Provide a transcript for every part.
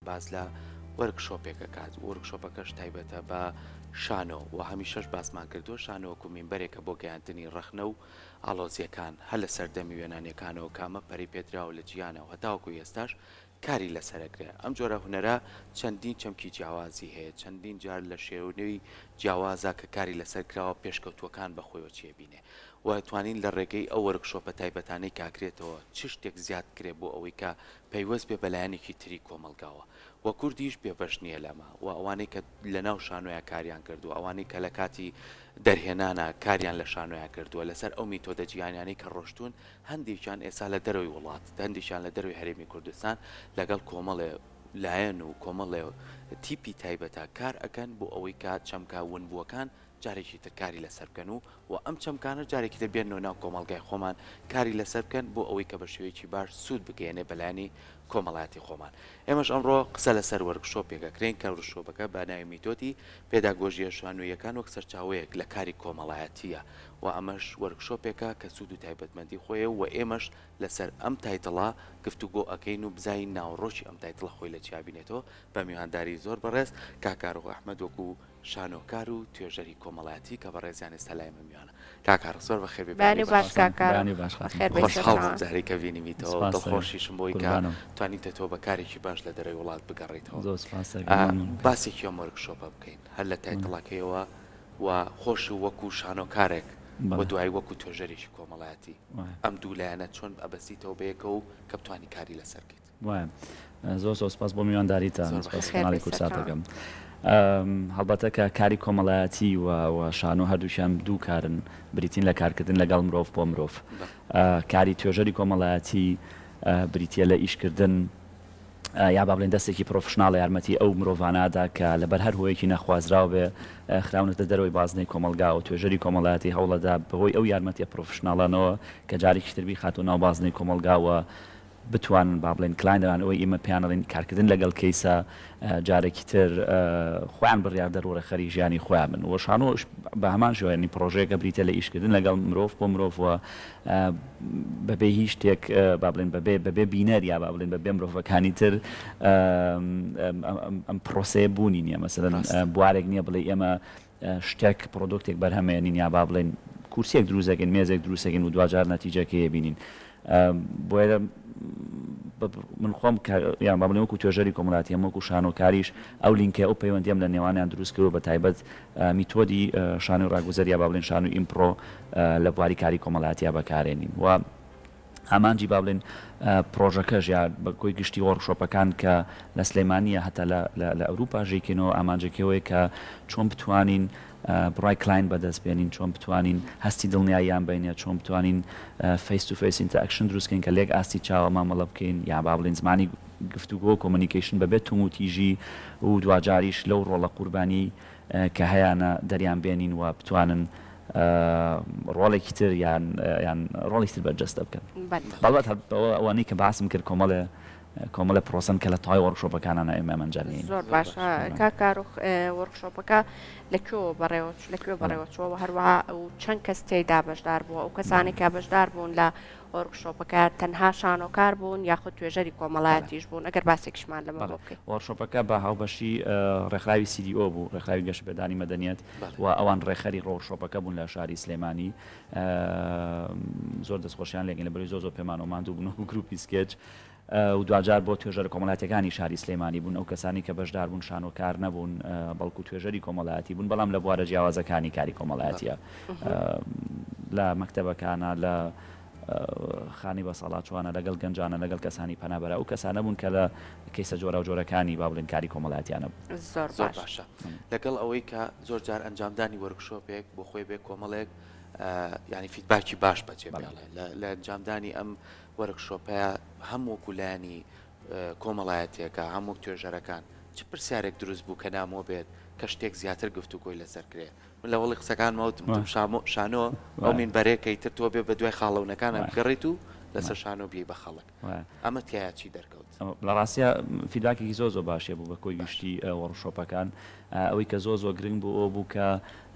باس لە وۆرک شۆپێک ئەکات، وۆرک شۆپەکەش تایبەتە بە شانۆ و هەمیشەش باسمان کردووە شانۆ وەکو مینبەرێکە بۆ گەیاندنی ڕەخنە و ئاڵۆزیەکان هەر لە سەردەمی وێنانێکانەوە کە ئەمە پەرەی پێدراوە لە جیهانا و هەتاوەکو ئێستاش کاری لەسەر ئەکرێ ئەم جۆرە هونەرە چەندین چەمکی جیاوازی هەیە چەندین جار لە شێونەوی جیاوازا کە کاری لەسەر کراوە پێشکەوتووەکان بە خۆیەوە چی ئەبینێ و توانین لە ڕێگەی ئەو وۆرک شۆپە تایبەتانەی کاکرێتەوە چ شتێک زیاد کرێ بۆ ئەوەی کە پەیوەست بێ بەلایەنێکی تری کۆمەڵگاوە و کوردیش بێبەش نیە لەمە و ئەوانەی کە لەناو شانۆیا کاریان کردوە ئەوانەی کە لەکاتی دەرهێنانا کاریان لە شانۆیا کردوە لەسەر ئەو میتۆدە جیهانیانەی کە ڕۆشتون هەندێکیان ئێسا لە دەرەوەی وڵات هەندێکیان لە دەرەوەی هەرێمی کوردستان لەگەڵ کۆمەڵێ لایەن و کۆمەڵێ تیپی تایبەتا کار ئەکەن بۆ ئەوەی کە چەمکە ونبوەکان جارێکی تر کاری لەسەر بکەن و و ئەم چەمکانە جارێکی تر بێننەوە ناو کۆمەڵگای خۆمان کاری لەسەر بکەن بۆ ئەوەی کە بە شێوەیەکی باش سوود بگەیەنێ بە لایەنی کۆمەڵایەتی خۆمان. ئێمەش ئەمڕۆ قسە لەسەر وۆرک شۆپێک ئەکرێین کە ورکشۆپەکە بە ناوی میتۆدی پێداگۆژییە شانۆییەکان وەک سەرچاوەیەک لە کاری کۆمەڵایەتییە و ئەمەش وۆرک شۆپێکە کە سوود و تایبەتمەندی خۆی هەیە و ئێمەش لەسەر ئەم تایتڵە گفتوگۆ ئەکەین و بزانین ناوەڕۆکی ئەم تایتڵە خۆی لە چیا بینێتەوە بە میوانداری زۆر بەڕێز کاک کارۆخ ئەحمەد وەکوو شانۆکار و توێژەری کۆمەڵایەتی کە بەڕێزیان ئێستا لای من میوانە. کاک ئارک زۆر بەخێر بێی بەیانی باش کاک ئارک بەخێر بێی سەرکەوتوو بی. خۆشحاڵ بووم جارێ کە بینیمیتەوە دڵخۆشیشم بووی کە توانیوتە تۆ بە کارێکی باش لە دەرەوەی وڵات بگەڕێیتەوە. باسی کیۆم وۆرک شۆپە بکەین هەر لە تایتڵەکەیەوە و خۆش و وەکوو شانۆکارێک و دوایی وەکوو توێژەرێکی کۆمەڵایەتی ئەم دوو لایەنە چۆن ئەبەستیتەوە بەیەکەوە و کە بتوانی کاری لەسەر بکەیت؟ وایە زۆر زۆر سپاس بۆ میوانداریتان زۆر سپاسی بەخێر کەناڵی بێی سەرکەوت. کورسات دەکەم ئەم، هەڵبەتە کە کاری کۆمەڵایەتی و و شانۆ هەردووکیان دوو کارن بریتین لە کارکردن لەگەڵ مرۆڤ بۆ مرۆڤ بە. ئا، کاری توێژەری کۆمەڵایەتی ئا، بریتییە لە ئیشکردن ئا، یا با بڵێین دەستێکی پرۆفشناڵ یارمەتی ئەو مرۆڤانە ئەدا کە لەبەر هەر هۆیەکی نەخوازراو بێ ئا، خراونەتە دەرەوەی بازنەی کۆمەڵگا و توێژەری کۆمەڵایەتی هەوڵ ئەدا بەهۆی ئەو یارمەتییە پرۆفشناڵانەوە کە جارێکیش تر بیخاتەوە ناو بازنەی کۆمەڵگا و بتوانن با بڵێین کلاینەران ئەوەی ئێمە پێیان ئەڵێین کارکردن لەگەڵ کەیسە جارێکی تر خۆیان بڕیاردەر و ڕێکخەری ژیانی خۆیان بن و شانۆش بە هەمان شێوە یانی پڕۆژەیەکە بریتییە لە ئیشکردن لەگەڵ مرۆڤ بۆ مرۆڤ و بەبێ هیچ شتێک با بڵێین بەبێ بەبێ بینەر یا با بڵێین بەبێ مرۆڤەکانی تر ئەم پڕۆسەیە بوونی نییە مەسەلەن بوارێک نییە بڵێ ئێمە شتێک، پرۆدۆکتێک بەرهەمێنین یا با بڵێین کورسیەک دروست دەکەین، مێزێک دروست دەکەین و دواجار نەتیجەکەی ئەبینین. بۆیە من خۆم کە یان با بڵێم وەکوو توێژەری کۆمەڵایەتی هەم وەکوو شانۆکاریش ئەو لینکەی ئەو پەیوەندیم لە نێوانیان دروست کردووە بەتایبەت میتۆدی شانۆی ڕاگوزەر یا با بڵێین شانۆی ئیمپڕۆ لە بواری کاری کۆمەڵایەتیا بەکارێنین و ئامانجی با بڵێین پڕۆژەکەش یا بە کۆی گشتی وۆرکشۆپەکان کە لە سلێمانیە هەتا لە ئەوروپا ژێکێنەوە ئامانجەکەوەی کە چۆن بتوانین بڕای کلاین بەدەست بێنین چۆن بتوانین هەستی دڵنیاییان بینە چۆن بتوانین فیس تو فیس ئینتەکشن دروستکەین کە لێک ئاستی چاوە مامەڵە بکەین یا با بڵین زمانی گفتوگۆ کۆمونیکیشن بەبێت توموتیژی و دواجاریش لەو ڕۆڵە قوربانی کە هەیانە دەریان بێنین و بتوانن ڕۆڵێکی تر یان یان ڕۆڵێکی تر بەرجەستە بکەن. بەڵبەت هەر بەوە ئەوانەی کە باسم کرد کۆمەڵێ کۆمەڵێ پرۆسەن کە لە تەوای وۆرکشۆپەکانانا ئێمە ئەمە ئەنجام دەین. زۆر باشە کاک کاروخ وۆرکشۆپەکە لە کوێوە بەڕێوە لە کوێ بەڕێوە چووە و هەروەها چەند کەس تێیدا بەشدار بووە؟ ئەو کەسانەی کە بەشدار بوون لە وۆرک شۆپەکە تەنها شانۆکار بوون یاخود توێژەری کۆمەڵایەتیش بوون ئەگەر باسێکیشمان لەمە بۆ بکەی. وۆرک شۆپەکە بە هاوبەشی ڕێکخراوی CDO بوو ڕێکخراوی گەشەپێدانی مەدەنیەت و ئەوان ڕێکخەری ڕۆرک شۆپەکە بوون لە شاری سلێمانی زۆر دەستخۆشیان لێگەین لەبەرەوەی زۆر زۆر پێمانەوە ماندوو بوون وەکو گروپی سکێچ و دواجار بۆ توێژەرە کۆمەڵاتیەکانی شاری سلێمانی بوون، ئەو کەسانەی کە بەشدار بوون شانۆکار نەبوون بەڵکو توێژەری کۆمەڵایەتی بوون بەڵام لە بوارە جیاوازەکانی کاری کۆمەڵایەتیە لە مەکتەبەکانە لە خانی بەساڵاچوانە لەگەڵ گەنجانە لەگەڵ کەسانی پەنابەرە ئەو کەسانە بوون کە لە کەیسە جۆراو جۆرەکانی با بڵێن کاری کۆمەڵاتیانە بوون. زۆر زۆر باشە لەگەڵ ئەوەی کە زۆر جار ئەنجامدانی وەرکشۆپێک بۆ خۆی بێ کۆمەڵێک یانی فیدباکی باش بەجێ بەڵێ لە ئەنجامدانی ئەم وۆرکشۆپە هەم وەکو لایەنی کۆمەڵایەتیەکە هەم وەک توێژەرەکان چ پرسیارێک دروست بوو کە نامۆ بێت کە شتێک زیاتر گفتوگۆی لەسەر کرێ من لە وەڵی قسەکان مەوتم تم شامۆ شانۆ ئەو من بەرێکەی تر تۆ بێ بە دوای خاڵەونەکانە بگەڕیت و لەسەر شانۆ بی بە خەڵک ئەمە تیا چی دەرکەوت لە ڕاستە فیداکێکی زۆ زۆ باشێ بوو بە کۆی گشتی وەڕشۆپەکان ئەوەی کە زۆ زۆ گرنگ بوو ئەو بوو کە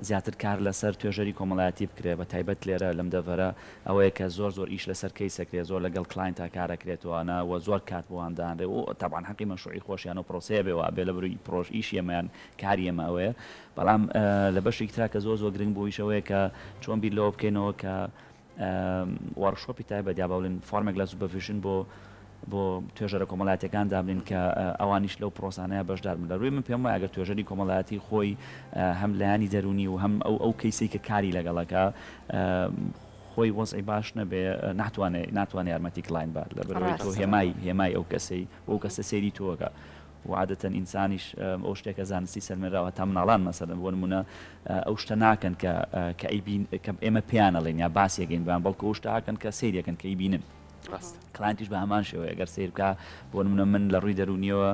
زیاتر کار لەسەر توێژەری کۆمەڵایەتی بکرێ بە تایبەت لێرە لەم دەڤەرە ئەوەیە کە زۆر زۆر ئیش لەسەر کەیس ئەکرێ زۆر لەگەڵ کلاینتا کار ئەکرێتوانە و زۆر کات بۆ وان دانرێ و تەبعەن حەقی مەشروعی خۆشیانە و پرۆسەیە بێ وابێ لە بروی پرۆژ ئیشی ئێمە یان کاری ئێمە ئەوەیە بەڵام لە بەشێکی ترا کە زۆر زۆر گرنگ بوو ئیش ئەوەیە کە چۆن بیر لەوە بکەینەوە کە وۆرکشۆپی تایبەت یا با بڵێین فۆرمێک لە سوپەرڤیژن بۆ بۆ توێژەرە کۆمەڵاتیەکان دابنێن کە ئەوانیش لەو پرۆسانەیە بەشدار بن لە رووی من پێم وایە گەر توێژەری کۆمەڵایەتی خۆی هەم لایانی دەرونی و هەم ئەو ئەو کەیسەی کە کاری لەگەڵەکە خۆی وەزعی باش نەبێ ناتوانێت ناتوانێت یارمەتی کلاین بات لە بەرەوەی تۆ هێمای هێمای ئەو کەسەی بۆ کەسە سەیری تۆگە و عادەتەن ئینسانیش ئەو شتێکە زانستی سەلمێنراوە هەتا مناڵان مەسەلەن بۆ نموونە ئەو شتە ناکەن کە کە ئەیبین کە ئێمە پێیان ئەڵێین یا باسی ئەکەین بۆیان بەڵکو ئەو شتە ئەکەن کە سەیری ئەکەن کە ئەیبینن ڕاستە کلاینتیش بە هەمان شێوەیە گەر سەیر بکا بۆ نمونە من لە ڕووی دەروونیەوە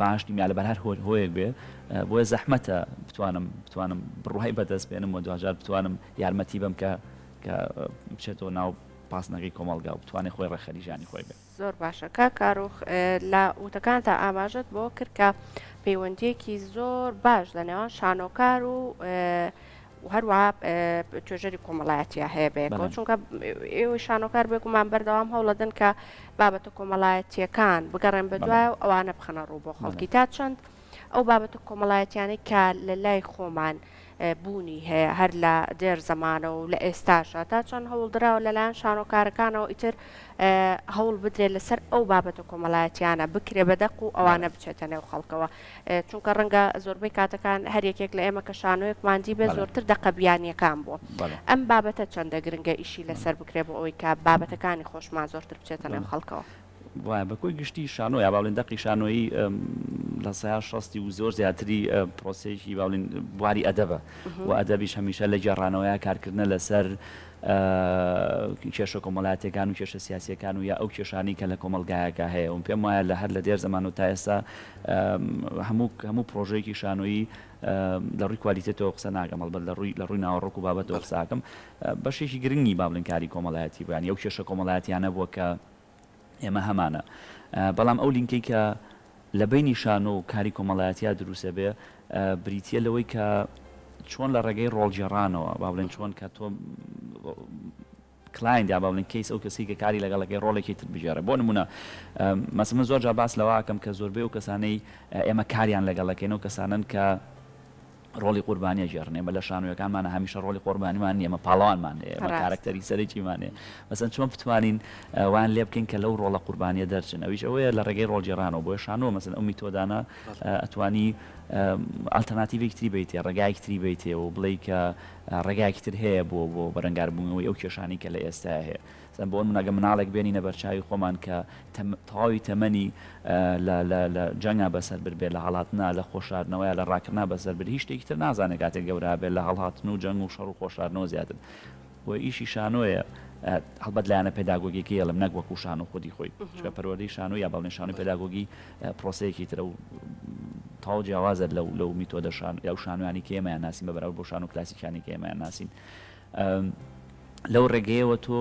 باش نیم یا لەبەر هەر هۆل هۆیەک بێ بۆیە زەحمەتە بتوانم بتوانم بڕوای بەدەست بێنم و دواجار بتوانم یارمەتی بەم کە کە بچێتەوە ناو پاسنەکەی کۆمەڵگا و بتوانێت خۆی ڕێخەری ژانی خۆی بێت زۆر باشە کاک کاروخ لە وتەکانتا ئاماژەت بەوە کرد کە پەیوەندیەکی زۆر باش لە نێوان شانۆکار و هەروە توێژەری کۆمەڵایەتە هەیە بەیەکەوە چونکە ئێوەی شانۆکار بێگومان بەردەوام هەوڵەدن کە بابەتە کۆمەڵایەتیەکان بگەڕێن بە دوای و ئەوانە بخەنە ڕوو بۆ خەڵکی تا چەند ئەو بابەتە کۆمەڵایەتیانەی کە لە لای خۆمان بوونی هەیە هەر لە دێر زەمانەوە و لە ئێستاشە تا چەند هەوڵدراوە لەلایەن شانۆکارەکانەوە ئیتر هەوڵ بدرێت لەسەر ئەو بابەتە کۆمەڵایەتیانە بکرێ بە دەق و ئەوانە بچێتە نێو خەڵکەوە چونکە ڕەنگە زۆربەی کاتەکان هەر یەکێک لە ئێمە کە شانۆیەک مادی بێ زۆرتر دەقە بیانیەکان بووە ئەم بابەتە چەندە گرنگە ئیشی لەسەر بکرێ بۆ ئەوەی کە بابەتەکانی خۆشمان زۆرتر بچێتە نێو خەڵکەوە وایە بە کۆی گشتی شانۆ یا باڵێن دەقی شانۆیی لە سەیار شەستی و زۆر زیاتری پرۆسەیەکی باڵین بواری ئەدەبە و ئەدەبیش هەمیشە لە گێڕانەوەیە کارکردە لەسەر کێشە کۆمەلاتەکان و کێشە سیاسەکان و یا ئەو کێشانی کە لە کۆمەلگایەکە هەیە و پێم وایە لە هەر لە دێر زەمان و تا ئێستا هەموو هەموو پرۆژەیەکی شانۆیی لە ڕووی کوالیتێتەوە قسە ناگەم هەڵبەت لە ڕووی لە ڕووی ناوەڕۆک و بابەتەوە قساکەم بەشێکی گرنگی بابلنکاری کۆمەڵایەتی بوویان ئەو کێشە کۆمەڵایەتیانە بووە کە ئێمە هەمانە بەڵام ئەو لینکەی کە لە بینی شانۆ و کاری کۆمەڵایەتیا دروسە بێ بریتە لەوەی کە چۆن لە ڕێگەی ڕۆڵگێڕانەوە با بڵێن چۆن کە تۆ کلایندا با بڵێن کەیس ئەو کەسی کە کاری لەگەڵەکەی ڕۆڵێکی تر بژێرە بۆ نمونە مەس من زۆر جا باس لەواکەم کە زۆربەی و کەسانەی ئێمە کاریان لەگەڵەکەین و کەسانن کە ڕۆڵی قوربانی ئەگێڕن ئێمە لە شانۆیەکانمانە هەمیشە ڕۆڵی قۆربانیمان نیە ئێمە پاڵەوانمان هەیە ئێمە کارەکتەری سەرەکیمان هەیە مەسەن چۆن بتوانین وان لێ بکەین کە لەو ڕۆڵە قوربانیە دەرچن ئەویش ئەوەیە لە ڕێگەی ڕۆڵگێڕانەوە بۆیە شانۆ مەسەن ئەو میتۆدانە ئەتوانی ئالتەرناتیڤێکی تری بیتێ ڕێگایەکی تری بیتێ و بڵێ کە ڕێگایەکی تر هەیە بۆ بۆ بەرەنگاربوونەوەی ئەو کێشانی کە لە ئێستا هەیە سەن بۆن مناگە مناڵێک بێنینە بەرچاوی خۆمان کە تە تەواوی تەمەنی لە لە لە جەنگا بەسەر بربێ لە هەڵاتنا لە خۆشاردنەوەیا لە ڕاکردنا بەسەر بر هیچ شتێکی تر نازانێ کاتێ گەورابێ لە هەڵاتن و جەنگ و شەڕ و خۆشاردنەوە زیاتر بۆ ئیشی شانۆیە هەڵبەت لایەنە پێداگۆگیەکەی ئەڵێم نەک وەکو شانۆ خودی خۆی چکە پەروەردەی شانۆ یا بەڵێ شانۆی پێداگۆگی پرۆسەیەکی ترە و تاو جیاوازە لەو لەو میتۆدە شان یا شانوانی کێمەیان ناسین بە بەراورد بۆ شانۆ کلاسیکانی کێمەیان ناسین لەو ڕێگەیەوە تۆ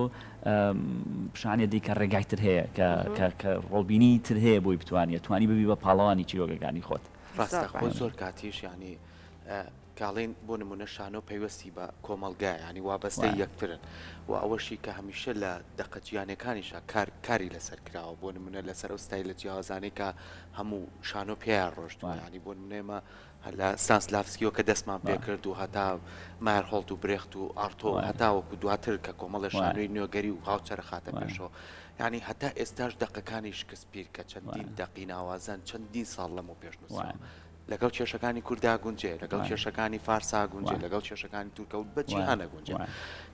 پیشانێ دی کە ڕێگای تر هەیە کە ڕۆڵبینی تر هەیە بۆی بتوانێت توانی ببی بە پاڵەوانی چیرۆگەکانی خۆت ڕاستە خۆ زۆر کاتیش ینی کاڵین بۆ نمونە شانۆ پەیوەستی بە کۆمەلگای ینی وابەستە یەکترن و ئەوەشی کە هەمیشە لە دەقە جیانەکانیشە کار کاری لەسەر کراوە بۆ نمونە لەسەر ئەو ستای لە جیاوازانەی کە هەموو شانۆ پێیان ڕۆشتوانانی بۆ نمونێمە هەر لە ستانسلافسکیەوە کە دەستمان پێ کرد و هەتا مایەرهۆڵت و برێخت و ئارتۆ و هەتاوەکو دواتر کە کۆمەڵێ شانۆی نوێگەری و هاوچەرخ هاتە پێشەوە، یانی هەتا ئێستاش دەقەکانی شکسپیر کە چەندین دەقی ناوازەن چەندین ساڵ لەمەو پێش نووسراوە. لەگەڵ کێشەکانی کوردا گونجێ، لەگەڵ کێشەکانی فارسا گونجێ، لەگەڵ کێشەکانی تورکە و بە جیهان ئەگونجێ.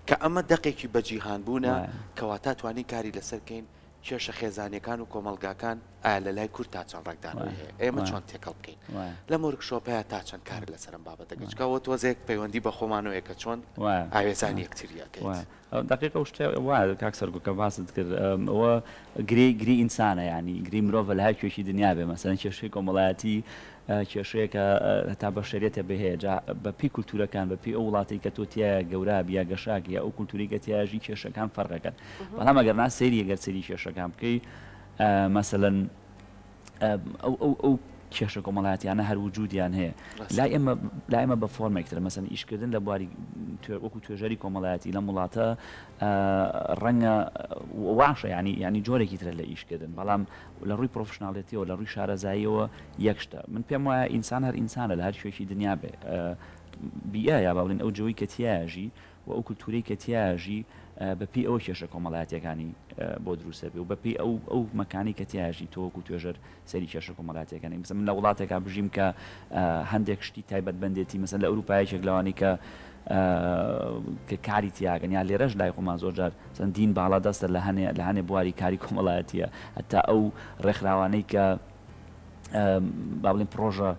کە ئەمە دەقێکی بە جیهان بوونە کەواتە توانین کاری لەسەر کەین کێشە خێزانیەکان و کۆمەڵگاکان ئایا لە لای کورد تا چەند ڕەگدانەوەی هەیە؟ ئێمە چۆن تێکەڵ بکەین؟ لەم ورک شۆپەیا تا چەند کارت لەسەر ئەم بابەتە کرد؟ جگە ئەوە تۆزێک پەیوەندی بە خۆمانەوە یە کە چۆن ئاوێزانی یەکتری ئەکەیت. دەقیق ئەو شتە وایە کاک سەرگوت کە باست کرد ئەوە گرێی گری ئینسانە یانی گرێی مرۆڤە لە هەر کوێکی دنیا بێ مەسەلەن کێشەی کۆمەڵایەتی کێشەیە کە هەتا بەشەریەتە بێ هەیە جا بە پێی کولتورەکان بە پێی ئەو وڵاتەی کە تۆ تیایا گەورابی یا گەشاک یا ئەو کولتوری کە تیایا ژی کێشەکان فەرقەکەن بەڵام ئەگەر نا سەیری گەر سەیری کێشەکان بکەی مەسەلەن ئەو ئەو ئەو کێشە کۆمەڵاتیانە هەر وجودیان هەیە لا ئێمە لا ئێمە بە فۆرمێکتر مەسەن ئیشکردن لە بواری وەکو توێژەری کۆمەڵایەتی لەم وڵاتە ڕەنگە واشە ینی ینی جۆرێکی ترە لە ئیشکردن بەڵام لە ڕووی پرۆفشناڵێتیەوە لە ڕووی شارەزاییەوە یەک شتە من پێم وایە ئینسان هەر ئینسانە لە هەر کوێیەکی دنیا بێ بیئە یا با بڵێن ئەو جۆی کە تیایە ژی و ئەو کولتوورەی کە تیایە ژی بەپێی ئەوە کێشە کۆمەڵایەتیەکانی بۆ دروست دەبێ و بەپێی ئەو ئەو مەکانی کە تیایە ژی تۆ وەکو توێژەر سەری کێشە کۆمەڵاتیەکانی مثلا من لە وڵاتێکا بژیم کە هەندێک شتی تایبەت بەندێتی مثلا لە ئەوروپا یەکێک لەوانەی کە کە کاری تیاکەن یا لێرەش لای خۆمان زۆر جار مثلا دین باڵا دەستە لە هەنێ لە هەنێ بواری کاری کۆمەڵایەتیە هەتا ئەو ڕێکخراوانەی کە با بڵێن پڕۆژە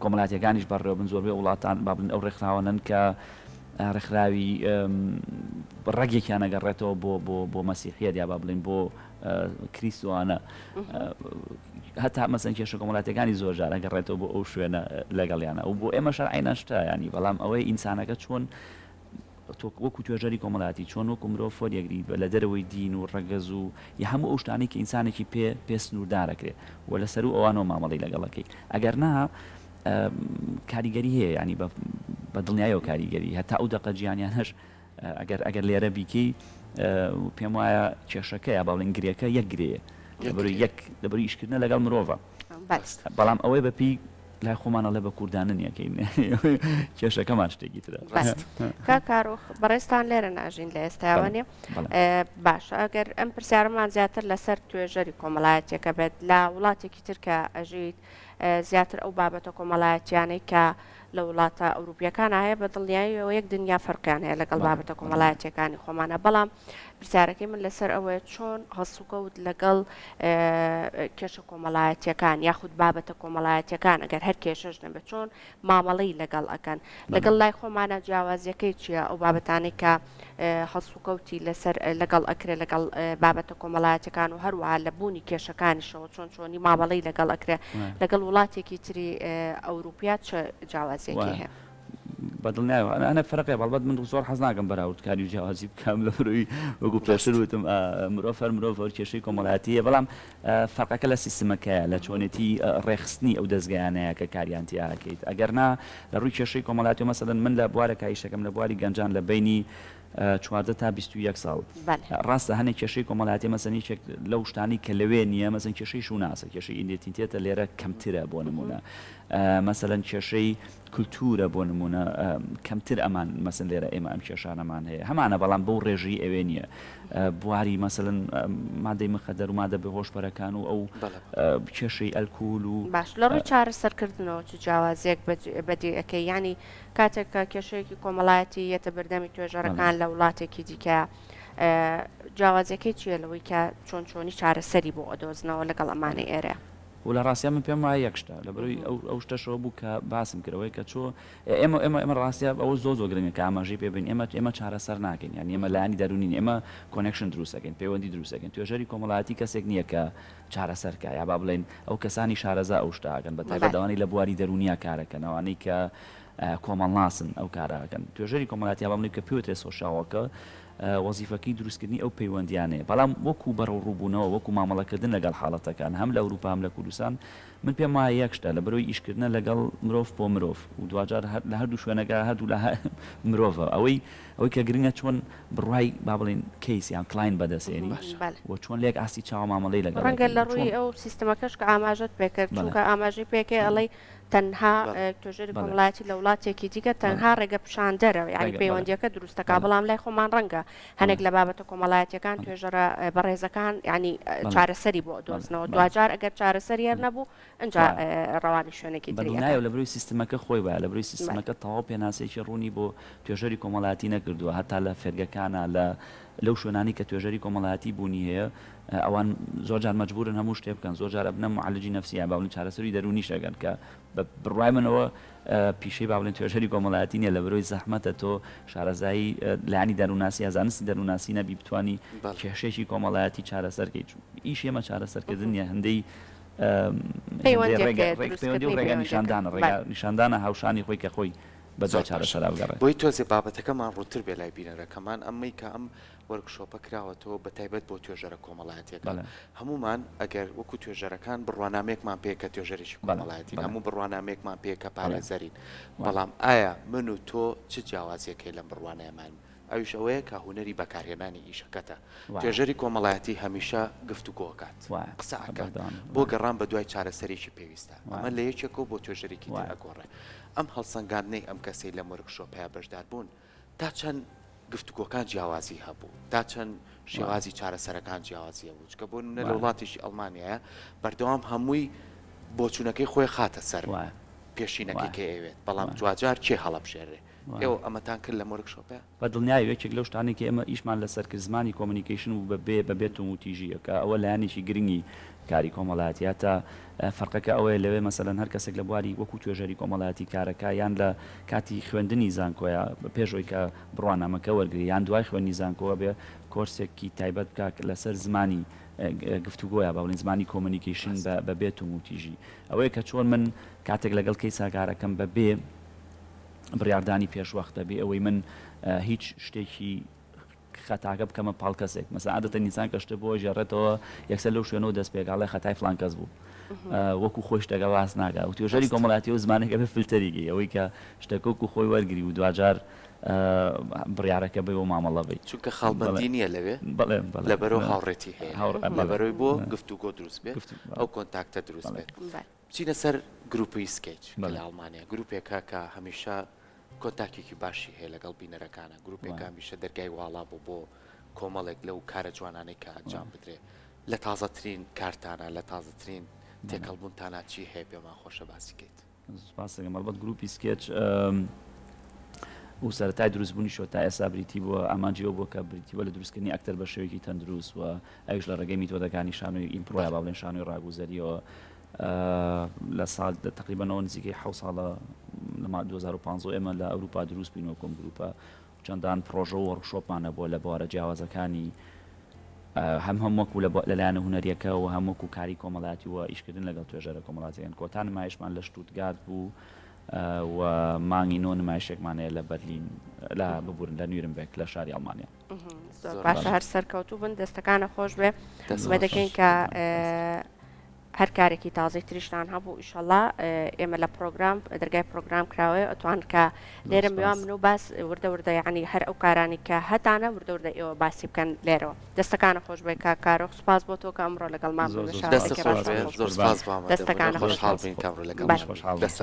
کۆمەڵاتیەکانیش بەڕێوە بن زۆربەی وڵاتان با بڵێن ئەو ڕێکخراوانن کە ڕێکخراوی ڕەگێکیان نەگەڕێتەوە بۆ بۆ بۆ مەسیحیەت یا با بڵێن بۆ کریسوانە هەتا مەسەن کێشە کۆمەلاتەکانی زۆر جارە گەڕێتەوە بۆ ئەو شوێنە لەگەڵیانە و بۆ ئێمە شەرعینە شتیانی بەڵام ئەوەی ئینسانەکە چۆن وەکو توێژەری کۆمەلاتی چۆن وەکو مرۆ فۆریەگری بە لە دەرەوەی دین و ڕەگەز و یا هەموو ئەو شتانی کە ئینسانێکی پێ پێ سنووردارەکرێ و لەسەر و ئەوانەوە مامەڵی لەگەڵەکەی ئەگەر نا کاریگەری هەیە ینی بە دڵنیایەوە کاریگەری هەتا ئەو دەقە جیانیان هەش ئەگەر ئەگەر لێرە بیکەی پێم وایە کێشەکەیە با بڵێین گرێکە یەک گرێیە لەبەروی یەک لەبەروی ئیشکردنە لەگەڵ مرۆڤە بەڵام ئەوەی بەپی لای خۆمانەڵێ بە کوردانن یەکەین کێشەکەمان شتێکی ترە کاکارۆخ بەڕێستان لێرە ناژین لە ئێستاوانێ باشە ئەگەر ئەم پرسیارمان زیاتر لەسەر توێژەری کۆمەڵایەتەکە بێت لە وڵاتێکی ترکە ئەژیت زیاتر ئەو بابەتە کۆمەڵایەتیانەی کە لە وڵاتە ئەوروپیەکانا هەیە بە دڵنیایەوە یەک دنیا فەرقیان هەیە لەگەڵ بابەتە کۆمەڵایەتیەکانی خۆمانە بەڵام پرسیارەکەی من لەسەر ئەوەیە چۆن هەڵسوکەوت لەگەڵ کێشە کۆمەڵایەتیەکان یاخود بابەتە کۆمەڵایەتیەکان ئەگەر هەر کێشەش نەبە چۆن مامەڵی لەگەڵ ئەەکەن لەگەڵ لای خۆمانە جیاوازیەکەی چییە ئەو بابەتانی کە هەڵسوکەوتی لەسەر لەگەڵ ئەکرێ لەگەڵ بابەتە کۆمەڵایەتەکان و هەروەها لە بوونی کێشەکانیشەوە چۆن چۆنی مامەڵی لەگەڵ ئەکرێ لەگەڵ وڵاتێکی تری ئەوروپیات چ جیاوازیەکی هەیە. بەدڵ نایەوە ئەە فەرقێ بەڵبەت من زۆر حەز ناکەم بەراوردکاری و جیاوازی بکەم لە مرۆوی وەگو پێشتر وتم مرۆڤ هەر مرۆڤ کێشەی کۆمەڵاتیە بەڵام فەرقەکە لە سیستمەکەیە، لە چۆنێتی ڕێکخستنی ئەو دەزگایانەیە کە کاریان تیا ئەکەیت، ئەگەر نا لە ڕووی کێشەی کۆمەڵایەتیەوە مەسەلەن من لە بوارە کە ئیشەکەم لە بواری گەنجان لە بەینی چواردە تا بیست و یەک ساڵ ڕاستە هەنێک کێشەی کۆمەڵایەتیە مەسەن یەکێک لەو شتانەی کە لەوێ نیە مەسەن کێشەی شوناسە کێشەی ئیندێتینتێتە لێرە کەمترە بۆ نمونە مەسەلەن کێشەی کلتورە بۆ نمونە کەمتر ئەمان مەسەن لێرە ئێمە ئەم کێشانەمان هەیە هەمانە بەڵام بەو ڕێژەی ئەوێ نیە بواری مەسەن مادەی مخەدەر و مادە بە هۆشبەرەکان و ئەو کێشەی ئەلکول و باش لە ڕووی چارە سەرکردنەوە چ جیاوازیەک بەدی ئەەکەی ینی کاتێککە کێشەیەکی کۆمەڵایەتی یەتە بەردەمی توێژەرەکان لە وڵاتێکی دیکە جیاوازەکەی چیە لەوەی کە چۆن چۆنی چارەسەری بۆ ئەدۆزنەوە لەگەڵ ئەمانی ئێرە و لە ڕاستیا من پێم وایە یەک شتە لە بەرەوی ئەو ئەو شتەشەوە بوو کە باسم کرد ئەوەی کە چۆ ئێمە ئێمە ئێمە ڕاستە ئەوە زۆ زۆ گرنگە کە ئاماژەی پێ بین ئێمە ئێمە چارەسەر ناکەین یان ئێمە لایانی دەرونین ئێمە کۆنێکشن دروست دەکەین پەیوەندی دروست دەکەین توێژەری کۆمەڵایەتی کەسێک نییە کە چارەسەر کا یا با بڵێین ئەو کەسانی شارەزا ئەو شتە ئەکەن بە تایبەت ئەوانەی لە بواری دەرونیا کار ئەکەن ئەوانەی کە کۆمەڵناسن ئەو کارە ئەکەن توێژەری کۆمەڵایەتی یا با بڵێین کە پێوترێ سۆشیاڵ وۆرکەر وەزیفەکەی دروستکردنی ئەو پەیوەندییانەیە، بەڵام وەکو بەرەوڕووبوونەوە، وەکو مامەڵەکردن لەگەڵ حاڵەتەکان، هەم لە ئەوروپا هەم لە کوردستان، من پێم وایە یەک شتە، لە بەرۆی ئیشکردنە لەگەڵ مرۆڤ بۆ مرۆڤ و دواجار لە هەردوو شوێنەکە هەردوولا مرۆڤە. ئەوەی ئەوەی کە گرنگە چۆن بڕوای با بڵێین کەیس یان کڵاین بەدەستێنی و چۆن لە یەک ئاستی چاوە مامەڵەی لەگەڵ دەکەین. ڕەنگە لە ڕووی ئەو سیستمەکەش کە ئاماژەت پێ کرد، چونکە ئاماژەی پێ کەی ئەڵێی تەنها توێژەری کۆمەڵایەتی لە وڵاتێکی دیکە تەنها ڕێگەپیشاندەرە یعنی پەیوەندیەکە دروستەکە بەڵام لای خۆمان ڕەنگە هەنێک لە بابەتە کۆمەڵایەتەکان توێژەرە بەڕێزەکان ینی چارەسەری بۆ دۆزنەوە دوجار ئەگەر چارەسەری هەر نەبوو ئەجا ڕەوانی شوێنێکی دنیاە لە بروی سیستمەکە خۆی وایە لە بروی سیستمەکە تەواو پێناسێکی ڕوونی بۆ توێژەری کۆمەڵایەتی نەکردووە هەتا لە فێرگەکانە لە لەو شوێنانەی کە توێژەری کۆمەڵایەتی بوونی هەیە ئەوان زۆر جار مەجبوورن هەموو شتێ بکەن زۆر جار ئەبنە معالجی نفسی یا باڵین چارەسەری دەروونیش ئەگەن کە بە بڕوای منەوە پیشەی باڵێن توێژەری کۆمەڵایەتی نیە لە برۆی زەحمەتە تۆ شارەزایی لانی دەرووناسی یا زانستی دەرووناسی نەبی بتانی کێشێکی کۆمەڵایەتی چارەسەرکەی ئیش ئێمە چارەسەرکردن نیە هەندەی پەیوەندی ڕێگە ڕێگە نیشاندانە ڕێگە نیشاندانە هاوشانی خۆی کە خۆی بە دوای چارەسەرا بگەڕێت. بۆی تۆزێ بابەتەکەمان ڕوونتر بێ لای بینەرەکەمان ئەمەی کە ئەم وۆرکشۆپە کراوەتەوە بە تایبەت بۆ توێژەرە کۆمەڵایەتیەکان هەموومان ئەگەر وەکو توێژەرەکان بڕوانامەیەکمان پێیە کە توێژەرێکی کۆمەڵایەتین هەموو بڕوانامەیەکمان پێیە کە پارێزەرین بەڵام ئایا من و تۆ چ جیاوازیەک هەیە لەم بڕوانایەمان ئەویش ئەوەیە کە هونەری بەکارهێنانی ئیشەکەتە. توێژەری کۆمەڵایەتی هەمیشە گفتوگۆ ئەکات، قسە ئەکات بۆ گەڕان بە دوای چارەسەرێکی پێویستە. ئەمە لە یەکێکەوە بۆ توێژەرێکی تر ئەگۆڕێ. ئەم هەڵسەنگاندنەی ئەم کەسەی لەم وۆرکشۆپەیا بەشدار بوون تا چەند گفتوگۆکان جیاوازی هەبوو، تا چەند شێوازی چارەسەرەکان جیاوازی هەبوو، چونکە بۆ نمونە لە وڵاتێکی ئەڵمانیایە بەردەوام هەمووی بۆچوونەکەی خۆی خاتە سەر پێشینەکەی کە ئەیەوێت، بەڵام دواجار کێ هەڵەبژێرێ. ئێوە ئەمەتان کرد لەم ۆرک شۆپە؟ بە دڵنیایە و یەکێک لەو شتانەی کە ئێمە ئیشمان لەسەر کرد زمانی کۆمۆنیکەیشن بوو بە بێ بە بێ توندوتیژییە کە ئەوە لایەنێکی گرنگی کاری کۆمەڵایەتیە تا فەرقەکە ئەوەیە لەوێ مەسەلەن هەر کەسێک لە بواری وەکوو توێژەری کۆمەڵایەتی کارەکە یان لە کاتی خوێندنی زانکۆیە پێش ئەوی کە بڕوانامەکە وەرگری یان دوای خوێندنی زانکۆ ئەبێ کۆرسێکی تایبەت بکا لەسەر زمانی گفتوگۆیە با بڵێین زمانی کۆمۆنیکەیشن بە بە بێ توندوتیژی ئەوەیە کە چۆن من کاتێک لەگەڵ کەیسا کارەکەم بە بێ بڕیاردانی پێشوەختە بێ ئەوەی من هیچ شتێکی خەتاکە بکەمە پاڵ کەسێک مەسا عادەتە نیسان کە شتە بۆ ژێڕێتەوە یەکسەر لەو شوێنەوە دەست پێگاڵی خەتای فلان کەس بوو وەکو خۆی شتەکە باس ناگا و توێژەری کۆمەڵاتی و زمانەکە بە فلتەریگەی ئەوەی کە شتەکەک و خۆی وەرگری و دواجار بڕارەکە بێ و مامەڵە بی چونکە خاڵبندی نییە لەوێ لەبەرەوە هاوڕێتی هەیە هاوڕێ بەرەوەی بۆ گفتوگۆ دروست بێت ئەو کۆنتاکتە دروست بێت. بچینە سەر گروپی سکەیچ کە لە ئەڵمانیا گروپێکە کە هەمیشە کۆنتاکێکی باشی هەیە لەگەڵ بینەرەکانە گروپێکە هەمیشە دەرگای واڵا بۆ بۆ کۆمەڵێک لەو کارە جوانانەی کە ئەنجام بدرێ لە تازەترین کارتانە لە تازەترین تێکەڵبوونتانە چی هەیە پێمان خۆشە باسی کەیت سپاسەکە مەڵبەت گروپی سکێچ و سەرای دروستبوونی شۆ تا ئێسا بریتی بووە ئامانجیەوە بۆ کە بریتیوە لە دروستکردنی ئەکتەر بە شێوەیەکی تەندروست و ئەویش لە ڕێگەی میتۆدەکانی شانۆی ئیمپرۆ یا با بڵێین شانۆی ڕاگوزەریەوە لە سال تقریبەنەوە نزیکەی حە ساڵە لە 2015 ئێمە لە ئەوروپا دروست بینەوە کۆم گروپە چەندان پرۆژە و ڕشۆپمان هەبووە لە بوارە جیاوازەکانی هەم هەم وەکو لەلایەن هوەریەکە و هەم وەکو کاری کۆمەڵاتی و ئیشکردن لەگەڵ توێژەرە کۆمەڵاتیان کۆتا نمایشمان لە شتوتگات بوو و مانگی نۆ نمایشێکمانەیە لە بەرلین لا ببورن لە نویرمبێک لە شاری ئەڵمانیا باشە هەر سەرکەوتوو بن دەستەکانە خۆش بێ دەمە دەکەین کە هەر کارێکی تازەی تریشتان هەبوو ئیشەڵا ئێمە لە پرۆگرام دەرگای پرۆگرام کراوەیە ئەتوان کە لێرە میوان من و باس وردە وردە یعنی هەر ئەو کارانی کە هەتانە وردە وردە ئێوە باسی بکەن لێرەوە دەستەکانە خۆش بێ کا کارۆ سپاس بۆ تۆ کە ئەمڕۆ لەگەڵ مان دەستەکان خۆش حاڵ بین کە لەگەڵ دەست